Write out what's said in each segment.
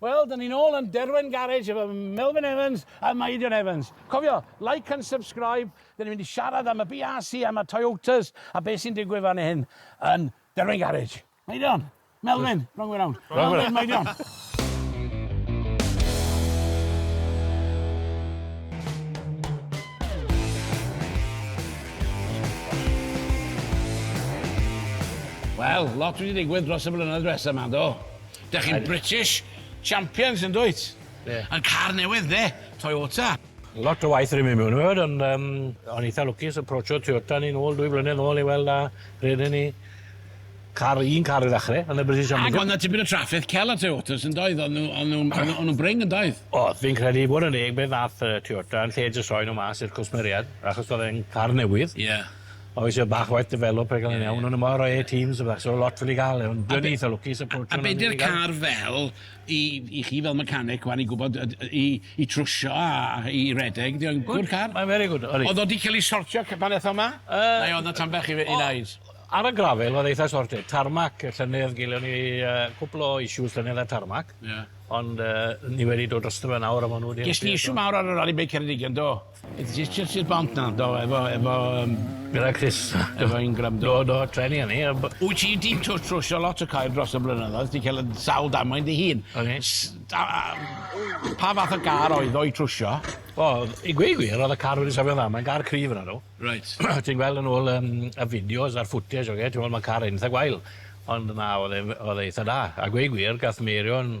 Wel, dan ni'n ôl yn Derwen Garage efo Melvin Evans a Meidion Evans. Cofio, like and subscribe, dan ni'n mynd i siarad am y BRC, am y Toyotas, a beth sy'n digwydd fan hyn yn Derwen Garage. Meidion! Melvin! Wrong way round. Wrong way round. Meidion! Wel, lot wedi digwydd dros y blynedd dwetha 'ma, do? Dach chi'n British champions yn dwyt? Ie. Yn car newydd de, Toyota. Lot o waith rym i mewn i fod ond yym o'n i eitha lwcus aprochio Toyota ni nôl dwy flynedd nôl i weld a redden ni car un car i ddachre yn y British Champions. Ag o'dd 'na tipyn o trafferth cel ar Toyotas yn doedd o'n nw o'n nw'n o'n nw o'n nw'n brin yn doedd? O'dd fi'n credu i fod yn deg be' ddath yy Toyota yn lle jyst rhoi nw mas i'r cwsmeriad achos o'dd e'n car newydd. Ie. O fi isio bach waith develop rhag 'wn yn iawn o'n nw mor roi Teams a bach so lot wedi ga'l e ond dwi yn eitha lwcus y A be' 'di'r car fel i i chi fel mechanic ŵan i gwbod yy d- i i trwsio a a i redeg 'di o'n good car? Mae'n very good odi. O'dd o 'di ca'l 'i sortio cy- pan ethon 'ma? Yy. Neu o'dd 'na tan bach i fy- i neud? Ar y grafel o'dd eitha sorted. Tarmac y llynedd gelion ni yy cwpwl o issues llynedd ar tarmac. Ie. Ond yy ni wedi dod drosto fe nawr a ma' nw wedi helpu eto. Ges di issue mawr ar y rali beic Ceredigion do? Jyst i'r bont 'na do efo efo yym... Gyda Chris efo un gram do do treni o'n i a b- Wyt ti 'di tw- trwsio lot o coed dros y blynyddoedd ti'n ca'l yy sawl damwain dy hun. O'n i. S- da- yym pa fath o gar oedd o i trwsio? Wel i gweud gwir o'dd y car wedi sefyll yn dda mae'n gar cryf yna nhw. Reit. Ti'n gweld yn ôl yym y fideos a'r footage oce ti'n weld ma' car eitha gwael ond na o'dd e'n f- o'dd e eitha da a gweud gwir gath Meirion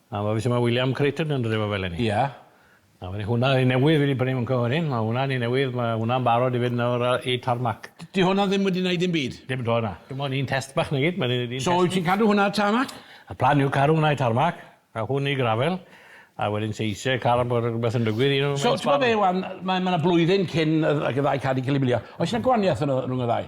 A ma' ma' William Creighton yn dod efo fe leni. Ia. A wedyn hwnna un newydd fi 'di prynu mewn cyfrifon, ma' hwnna'n un newydd ma' hwnna'n barod i fynd nawr a- i tarmac. D- 'di hwnna ddim wedi neud dim byd? Dim 'to na. Dim ond un test bach 'na gyd ma' neud un test. So wyt ti'n cadw hwnna ar tarmac? Y plan yw caru hwnna i tarmac a hwn i gravel a wedyn se isie car bod rwbeth yn digwydd un o So t'mo' be' ŵan mae ma' 'na blwyddyn cyn yy ag y ddau car 'di ca'l 'u milio oes 'na gwanieth yno rwng y ddau?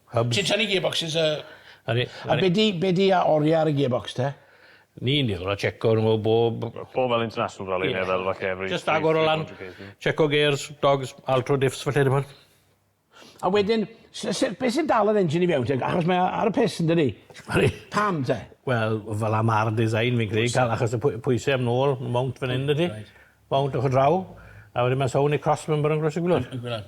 Hubs. Ti'n tynnu gearboxes a... A ni... A be' 'di be' 'di a- orie ar y gearbox te? Ni'n dueddol o tsieco arno fo bob... Bob fel international rally ne' fel falle every... Jyst agor o lan, tsieco gêrs, dogs, altro diffs felly t'mod. A wedyn su- su- be' sy'n dal yr engine i fewn te achos mae o ar y piss yndydi? Ydi. Pam te? Wel fel 'a ma'r design fi'n credu ga'l achos y pwy- pwyse am nôl ma' mownt fan 'yn dydi? Mownt ochor draw a wedyn ma' sownd i cross member yn groesi'r gwilod. Y gwilod.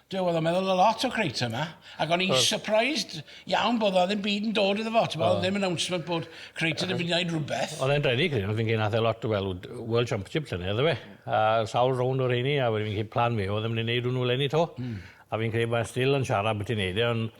Duw, oedd o'n meddwl a lot o Crater yma, ac o'n i'n surprised iawn bod o ddim byd yn dod iddo fo, ti'n bod, ddim announcement bod Crater yn mynd i wneud rhywbeth. Oedd e'n redig, fi'n credu, nath e lot, wel, World Championship llynedd, do fe? A sawl rownd o reini, a wedyn fi'n credu plan fe oedd e mynd i wneud hwnnw leni 'to. A fi'n credu mae e still yn siarad byti neud e, ond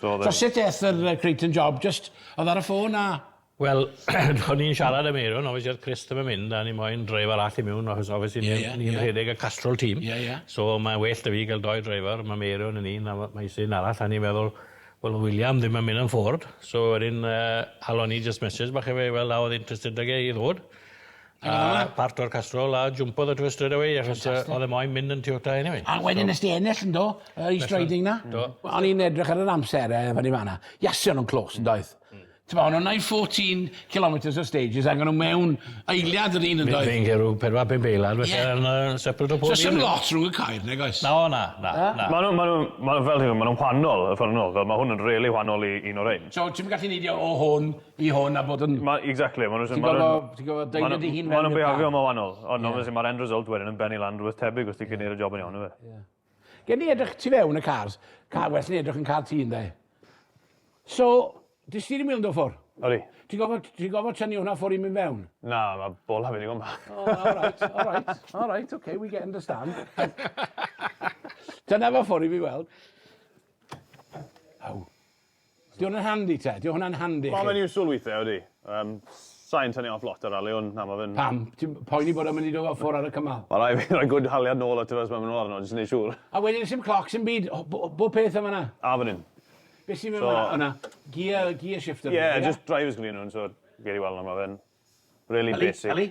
So sut eth yr Creighton job? Jyst oedd ar y ffôn a? Wel o'n i'n siarad â Meirion obviously oedd Chris ddim yn mynd a ni moyn driver arall i miwn achos obviously ni'n rhedeg y Castrol team so mae'n well 'da fi gael doi driver ma' Meirion yn un a ma' ma' isie un arall a o'n i'n meddwl wel oedd William ddim yn mynd am Ford so wedyn yy halon ni jyst mesij bach i fe i weld a oedd interested 'da fe i ddod A parto'r castrol a jwmpodd y tŷ strêt awê achos yy o'dd e moyn mynd yn Toyota eniwe. A wedyn nes di ennill yndo? Y East Riding 'na? Do. O'n i'n edrych ar yr amser yy fynny fan 'na. Iasu o'n nw'n close yndoedd? Hmm. T'mo' o'n nw'n neud fourteen kilometres o stages ag o'n nw mewn eiliad yr un yndoedd? Fi'n credu pedwar pump eiliad felly yn yy separate o pob un. So sim lot rhwng y Caer nag oes? Na o na na na. Ma' nw ma' nw ma' nw fel rhyw ma' nw'n whanol y ffor ma' nw fel ma' hwn yn rili whanol i un o rein. So ti'm yn gallu neidio o hwn i hwn a bod yn... Ma- exactly ma' nw'n... Ti'n gorfo ti'n gorfo deud e dy hun mewn i'r car. Ma' nw'n behavio'n ma' wanol ond obviously ma'r end result wedyn yn bennu lan rwbeth tebyg os ti'n gallu neud y job yn iawn on'd yw e? Gei di edrych tu fewn y cars. Ca- well ni edrych yn car ti ynde? So, dy steering wheel yn do' ffwr'? Odi. Ti gorfod ti gorfod tynnu hwnna ffwr' i myn' fewn? Na, ma' bola fi ddigon bach. O alright alright alright ok we get understand. Tynna fo ffwr' i fi weld. Aw. Di hwn yn handi te? Di hwnna'n handi i chi? Wel mae'n useful weithiau odi. Yym sai'n tynnu off lot ar rali ond na ma fe'n... Pam? Ti'n poeni bod o'n mynd i dod off ffwr ar y cymal? Wel rai' fi roi good haliad nôl ato fe os mae'n mynd nôl arno jyst i neud siŵr. A wedyn sim clocs sim byd? O bo- bob peth yn fan 'na? A fan 'yn. Be' sy mewn fan 'na? O 'na gear gear shifter. Ie jyst drivers gyda nhw so gewn ni weld nawr ma fe'n rili basic. Yli yli.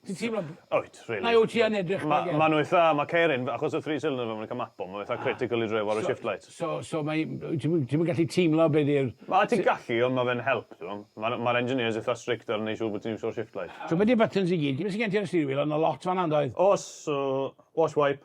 Ti'n teimlo... Wyt, rili. Mae o tua yn edrych fel ie. Ma' ma' nw eitha, ma' Keirin, achos y three cylinder ma' fe'n eitha mapio, ma' fe eitha critical i driw ar y shift light. So so so mae ti'm yn ti'm yn gallu teimlo be' 'di'r... Ma' ti'n gallu ond ma' fe'n help t'mo'. Ma'r ma'r engineers eitha strict ar neu' siŵr bo' ti'n iwsio'r shift light. So be' 'di'r buttons i gyd? Be' sy gen ti ar y steering wheel? O' 'na lot fan 'na yndoedd? O's, so, wash wipe,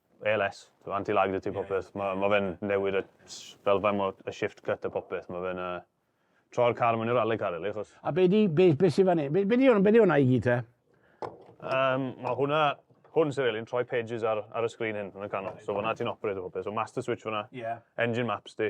ALS, anti-laxity popeth. Mae ma fe'n newid y fel faint mor y shift cut a popeth. Mae fe'n uh, troi'r car mewn i'r rally car really. Chos... A be di, be, be sy'n fan hyn? Be, be di hwnna, be di hwnna i gyd te? Um, mae hwnna, hwn sy'n really, yn troi pages ar, ar y sgrin hyn yn y canol. So fanna ti'n operate o popeth. So master switch fanna, yeah. engine maps di,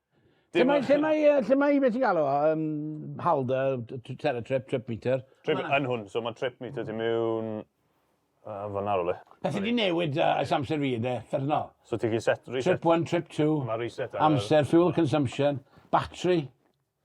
Lle mae, lle mae, lle mae, beth ti'n galw, um, halder, terra trip, trip meter? Trip, yn hwn, so mae trip meter ti mewn... Uh, Fyna rhywle. Beth ydi newid uh, ys amser fi, de, ffernol. So ti'n gallu set, reset. Trip 1, trip 2. Mae reset. Amser, fuel consumption, battery.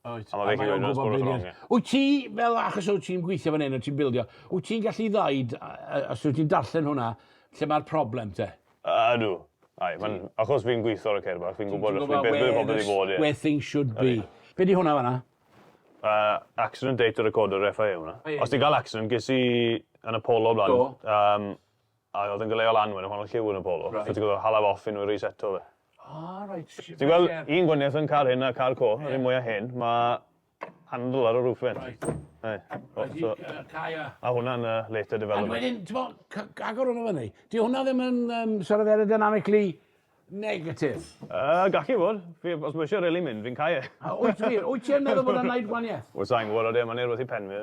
Wyt. A mae fe gyd yn sgwrs yn ôl. Wyt ti, fel achos wyt ti'n gweithio fan hyn, wyt ti'n bildio, wyt ti'n gallu ddaid, os wyt ti'n darllen hwnna, lle mae'r problem te? Ydw. Ai, mae'n, achos fi'n gweithio ar y ceir bach, fi'n gwybod beth bydd pobl wedi bod, ie. Where things should be. Be di hwnna fanna? Uh, accident data recorder FIA hwnna. Os ti'n cael accident, ges i yn y polo blaen. Do. Um, A oedd yn galeu o lan wedyn pan oedd lliw yn y polo. Reit. So ti'n gorfod hala fe off unwaith reseto fe. Ah, reit. Ti'n gweld un gwaniaeth yn car hyn a car co, yr un mwyaf hyn, mae handle ar y roof vent. Right. Hey. Oh, so, a hwnna'n uh, later development. A wedyn, ti'n bod, agor hwnna fyny. Di hwnna ddim yn um, sort of aerodynamically negative? Uh, gallu fod. Os mae eisiau rili mynd, fi'n cael e. Wyt ti'n meddwl bod yna'n gwneud gwaniaeth? Wyt ti'n gwybod o de, mae'n ei rwbeth i pen fi.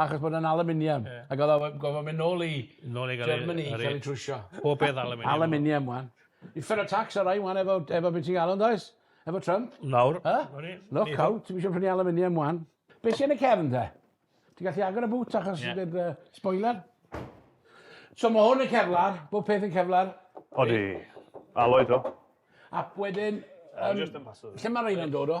Achos bod e'n aluminium. Ie. Ag odd o we- gorfod myn' nôl i... Nôl i ga'l 'i... Germany i ca'l 'i trwsio. Pob peth aluminium. Aluminium ŵan. Uffern o tax ar rain ŵan efo efo be' ti'n galw yndoes? Efo Trump. Nawr. Yy? O'n i. Look out, ti'm isio prynu aluminium ŵan. Be' sy yn y cefn te? Ti'n gallu agor y boot achos Ie. yr yy spoiler? So ma' hwn yn Kevlar, bob peth yn Kevlar. Odi. Alloy 'to. Ac wedyn yym... Lle ma' reina'n dod o?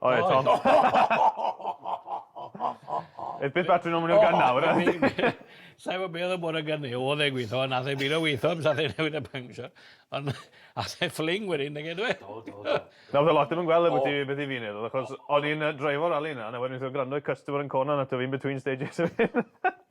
O ie Tom. It's bit better now ma' nw'n gân nawr yndi? Sai wbo be' odd y bore gynny odd e'n gwitho a nath e bido witho am sathe newid y pancshio on' ath e ffling wedyn nage do e? Do do do. Na o'dd e lot dim yn gwel e byti beth i fi neud odd achos o'n i'n yy dreifo rali yna a wedyn wnes i grando i Customer yn corner 'na t'o' fi in between stages wedyn.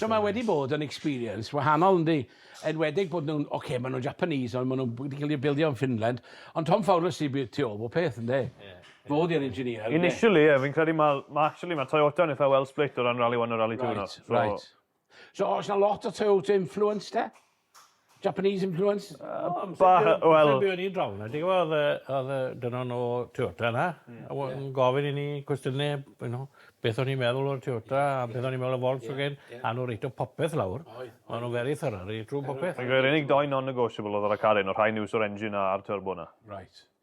So mae wedi bod yn experience wahanol yndi? Enwedig bod nhw'n, oce, okay, maen nhw'n Japanese ond maen nhw wedi cael eu bildio yn Finland, ond Tom Fowler sydd bydd tu ôl bob peth yndi? Ie. Fo oedd yr engineer yndi? Initially ie, fi'n credu mae, mae actually mae Toyota yn eitha well split o ran Rally One a Rally Two nawr. Right, right. So oes na lot o Toyota influence te? Japanese influence? Yy bach, yy wel... Lle buon ni draw 'na, ti'n gwbo o'dd yy o'dd yy dynon o Toyota 'na a we- yn gofyn i ni cwestiyne you know beth o'n i'n meddwl o'r Toyota a beth o'n i'n meddwl o Volkswagen a o'n nw reit o popeth lawr. Oedd. O'n nw very thorough reit trw popeth. Yr unig dou non-negotiable o'dd ar y car 'yn o' rhain yw so'r engine a a'r turbo 'na. Reit.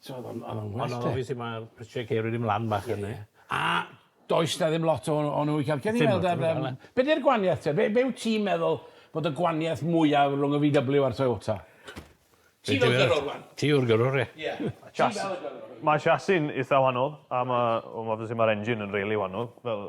So odd o'n odd o'n well 'de? Ond odd obviously ma' prisie ceir wedi myn' lan bach fyn 'ny. A does 'na ddim lot o o n'w i ca'l. Gewn ni weld ar yym... Be' 'di'r gwanieth te? Be' be' wt ti'n meddwl bod y gwanieth mwya rwng y Vee Double You a'r Toyota? Ti fel gyrrwr ŵan. Ti yw'r gyrrwr ie. Ie. Ti fel y gyrrwr. Ma'r chassis yn itha wanol a ma' wel obviously ma'r engine yn rili wanol fel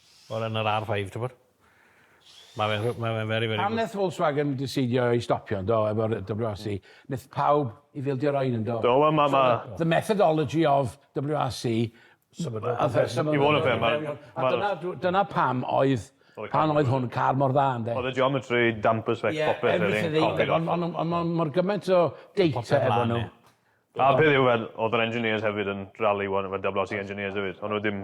Wel yn yr ar five t'mod? Ma' fe'n rhy- ma' fe'n very very good. Pam neth Volkswagen diseidio i stopio yndo efo'r WRC? Neth pawb i fildio rain yndo? Do wel ma' ma'... The methodology of WRC symudol i fod yn fair ma' ma' dyna dw- dyna pam oedd pan oedd hwn car mor dda ynde? O'dd y geometry damper sbecks popeth o'dd e'n copio lot. On' on' on' on' mor gyment o data efo nw. A peth yw fel o'dd yr engineers hefyd yn rally one efo WRC engineers efyd o'n nw ddim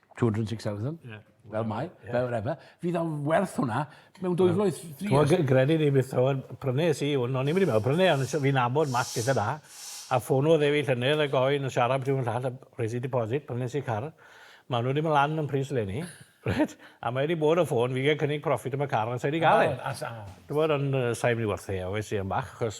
206,000, yeah. fel mai, yeah. fel whatever. Fydd o'n werth hwnna mewn dwy flwydd, three years. Ti'n gredu ni beth o'n prynu si, o'n i'n mynd i mewn prynu, ond fi'n abod mas beth yna. A ffono dde fi llynedd a goen yn siarad beth yw'n llall a resi deposit, prynu si car. Mae nhw wedi mynd lan yn pris le ni. Right? A mae wedi bod o ffôn, fi gael cynnig profit am y car, ond sa'i wedi gael e. Dwi'n bod yn sa'i mynd i werthu, a wedi yn bach, chos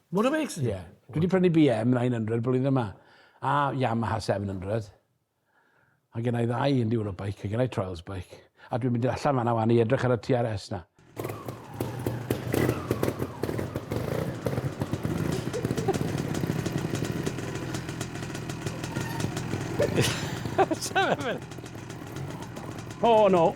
Motorbikes? Ie. Dwi 'di prynu BM 900 blwyddyn yma. A Yamaha 700. A gennai ddau enduro bike a gennai trials bike. A dwi'n mynd allan fanna wan i edrych ar y TRS na. Sefyll. Oh no.